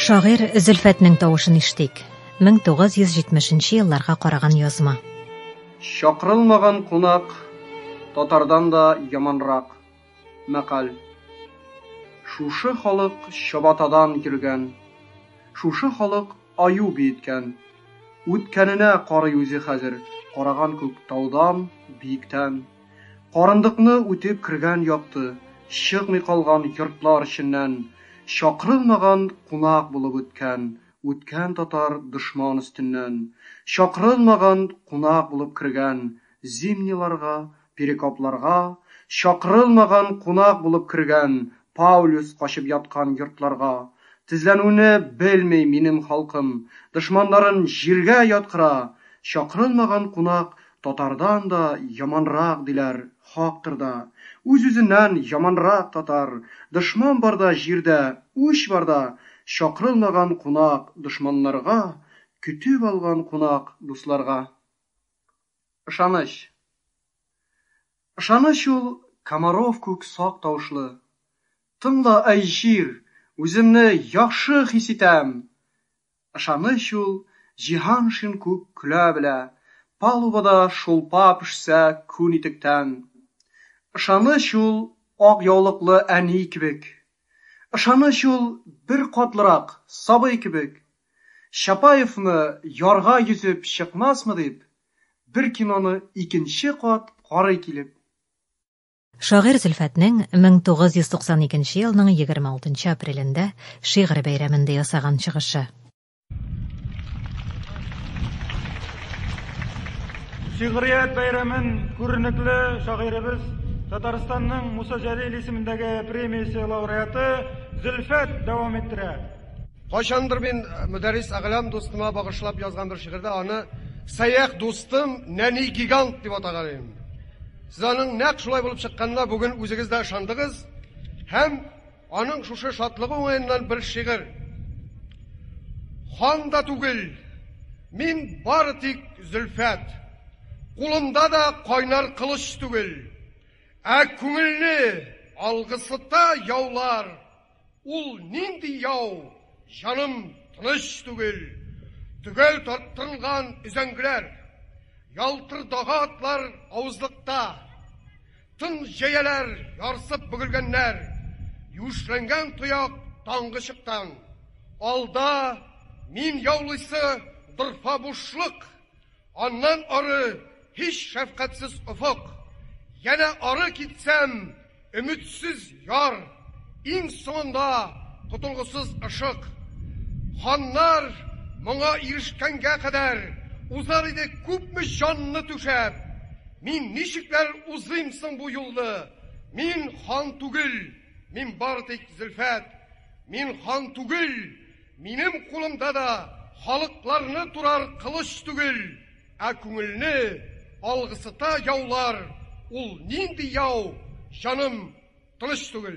Шагыйрь Зөлфәтнең тавышын иштик. 1970 елларга караган язма. Чакырылмаган кунак татардан да яманрак. Мәкаль. Шушы халык чабатадан йөргән. Шушы халык аю биеткән. Үткәненә карый үзе хәзер, караган күк таудан, биектән. Карындыкны үтеп кергән якты, чыкмый калган йортлар эченнән чакырылмаган кунак булып үткән, үткән татар дошман өстеннән чакырылмаган кунак булып кергән Зимниларга, Перекопларга, чакырылмаган кунак булып кергән Паулюс качып яткан йортларга тезләнүне белми минем халкым, дошманнарын җиргә яткыра, чакырылмаган кунак Татардан да яманрак диләр, хактыр да. Үз-үзеннән яманрак татар. Дошман барда җирдә, үч барда, Чакрылмаган кунак, дошманнарга, Көтеп алган кунак, дусларга. Ышаныч. Ышаныч ул, Комаров күк сак тавышлы. Тыңла, әй җир, үземне яхшы хис итәм! Ышаныч ул, җиһан шин күк көлә белә, Палубада шулпа пешсә күн итектән. Ышаныч ул, ак яулыклы әни кебек, Ышаныч ул, бер катлырак сабый кебек. Чапаевны ярга йөзеп чыкмасмы дип, Бер киноны икенче кат карый килеп. Шагыйрь Зөлфәтнең 1992 елның 26 апрелендә шигырь бәйрәмендә ясаган чыгышы. Шигърият бәйрәмен күренекле шагыйребез, Татарстанның Муса Җәлил исемендәге премиясе лауреаты Зөлфәт дәвам иттерә. Кайчандыр мин Мөдәррис Әгълам дустыма багышлап язган бер шигырьдә аны Сәяхь дустым, нәни гигант дип атаган идем. Сез аның нәкъ шулай булып чыкканына бүген үзегез дә ышандыгыз һәм аның шушы шатлыгы уңаеннан бер шигырь Хан да түгел, мин бары тик Зөлфәт, кулымда да кайнар кылыч түгел, ә күңелне алгысыта яулар. Ул нинди яу, җаным тыныч түгел. Төгәл тарттырылган өзәңгеләр, ялтырдагы атлар авызлыкта, тын җәяләр ярсып бөгелгәннәр, юешләнгән тояк таңгы чыктан. Алда, мин яулыйсы дырфа бушлык. Аннан ары, һич шәфкатьсез офык. Янә ары китсәм, өметсез яр. Иң соңында, котылгысыз ышык. Ханнар моңа ирешкәнгә кадәр, узар иде күпме җанны түшәп. Мин ничекләр узыйм соң бу юлны? Мин хан түгел, мин бары тик Зөлфәт. Мин хан түгел! Минем кулымда да халыкларны турар кылыч түгел, ә күңелне алгысыта яулар, ул нинди яу, җаным, тыныч түгел.